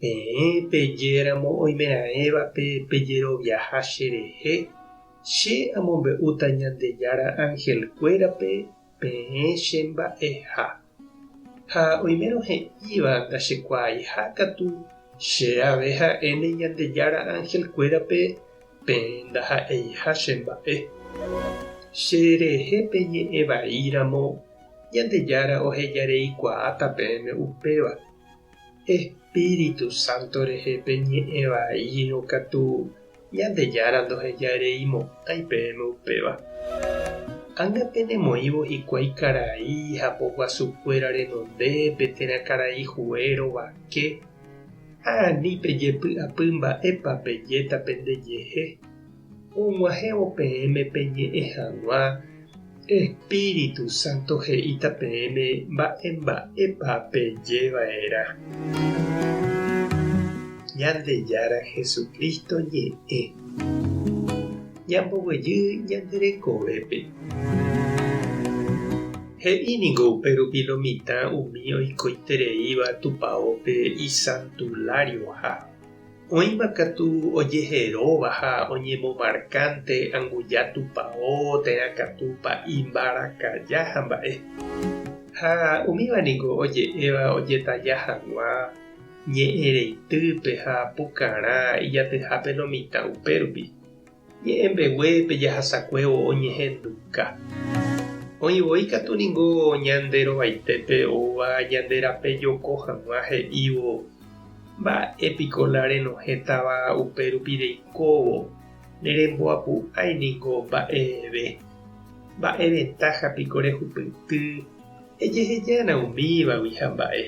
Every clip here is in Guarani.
Peẽ pejéramo oimeraẽva pe pejeroviaha cherehe, che amombe'úta Ñandejára angelkuérape peẽ che mba'eha. Ha oimérõ he'íva ndachekuaaiha katu, che ave ha'éne Ñandejára angelkuérape peẽ ndaha'eiha che mba'e. Cherehe peñe'ẽ vaíramo, Ñandejára ohejareikuaáta peẽme upéva. Espíritu Santo rehe peñe'ẽ vaírõ katu Ñandejára ndohejairei mokõi peẽme upéva. Ág̃a penemoĩvo hikuái karai ha poguasukuéra renonde pe térã karai huérõ vake ha ani pejepy'apy mba'épa pejéta pendejehe. Og̃uahẽvo peẽme peñe'ẽ hag̃ua, Espíritu Santo he'íta peẽme mba'e mba'épa peje va'erã. Ñandejára Jesucristo ñe'ẽ. Ñamboguejy ñande rekovépe. He'i ningo upe rupi lo mitã umi oikoitereíva Tupaópe isantulário ha. Oĩma katu ojeheróva ha oñemomarkánte anguja tupao, térã katúpa imbarakaja ha mba'e. Ha umíva ningo oje'éva ojetaja hag̃ua ñe'ẽreitýpe ha pukarã ijatyhápe lo mitã upérupi. Ñe'ẽ mbegue pe jahasakue oñehenduka. Oĩ voi katu ningo ñande rovaitépe oúva ñande rape joko hag̃ua he'ívo, Mba'e piko la renohẽtava upe rupi reikóvo, ne remboapu'ãi ningo mba'eve. Mba'e ventaja piko rehupyty, ejehejárõ umívagui ha mba'e.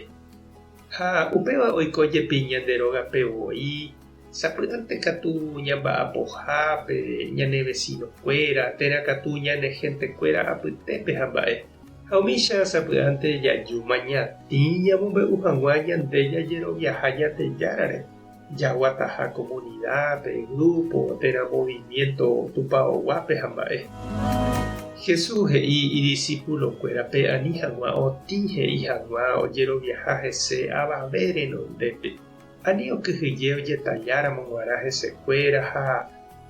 Ha upéva oiko jepi ñande rógape voi, sapy'ánte katu ñamba'apoha pe ñane vesinokuéra, térã katu ñane hentekuéra apytépe ha mba'e. Ha umícha sapy'ánte jajúma ñatĩ ñamombe'u hag̃ua ñande jajeroviaha Ñandejárare. jaguataha komunida, pe grúpo, térã moviviénto tupaoguápe ha mba'e. Jesús he'i idisipulokuérape ani hag̃ua otĩ he'i hag̃ua ojeroviaha hese avave renondépe, ani okyhyje ojetalláramo g̃uarã hesekuéra ha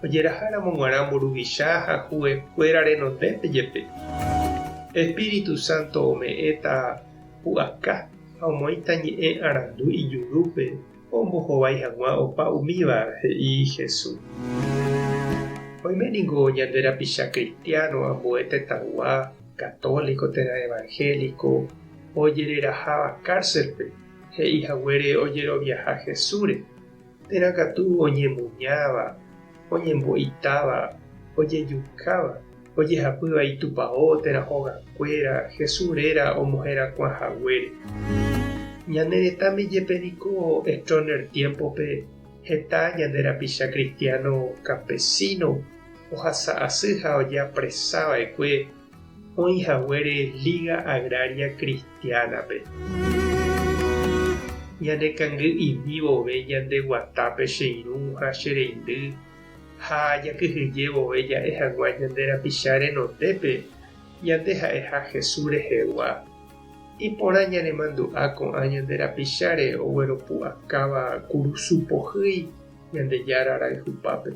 ojeraháramo g̃uarã mburuvicha ha hu'ekuéra renondépe jepe. Espíritu Santo ome'ẽta pu'aka. ha omoĩta ñe'ẽ arandu ijurúpe ombohovái hag̃ua opa umíva, he'i Jesús. Oime ningo ñande rapicha kristiáno ambue tetãgua, katóliko térã evanhéliko, ojereraháva kárselpe he'i haguére ojeroviaha Jesúsre, Térã katu oñemuñáva, oñembo'itáva, ojejukáva, ojehapýva itupao térã hogakuéra Jesús réra omoherakuã haguére. Ñane retãme jepe niko Stroessner tiémpope heta ñande rapicha kristiáno kampesíno ohasa asy ha ojeapresa va'ekue Oĩ haguére Liga Agraria Cristiana-pe. Ñane kangy imi vove ñande guatápe che irũ ha che reindy ha jakyhyje vove ja'e hagua ñande rapicha renondépe ñande ha'eha Jesús rehegua. Iporã ñanemandu'a ko'ã ñande rapicháre ogueropu'akáva kurusu pohýi Ñandejára rayhupápe.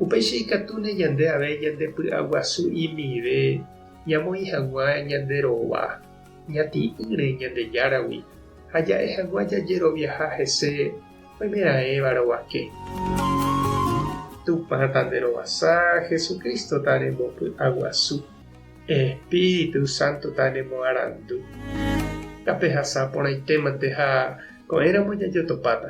Upéicha ikatúne ñande avei ñande py'aguasu imive ñamoĩ hag̃ua ñande rova ñati'ỹre Ñandejáragui ha ja'e hag̃ua jajeroviaha hese oimeraẽva rovake. Tupã tanderovasa, Jesucristo-ta rembopy'aguasu. Espíritu Santo tañemoarandu. Tapehasa porãitémante ha ko'ẽramo jajotopáta.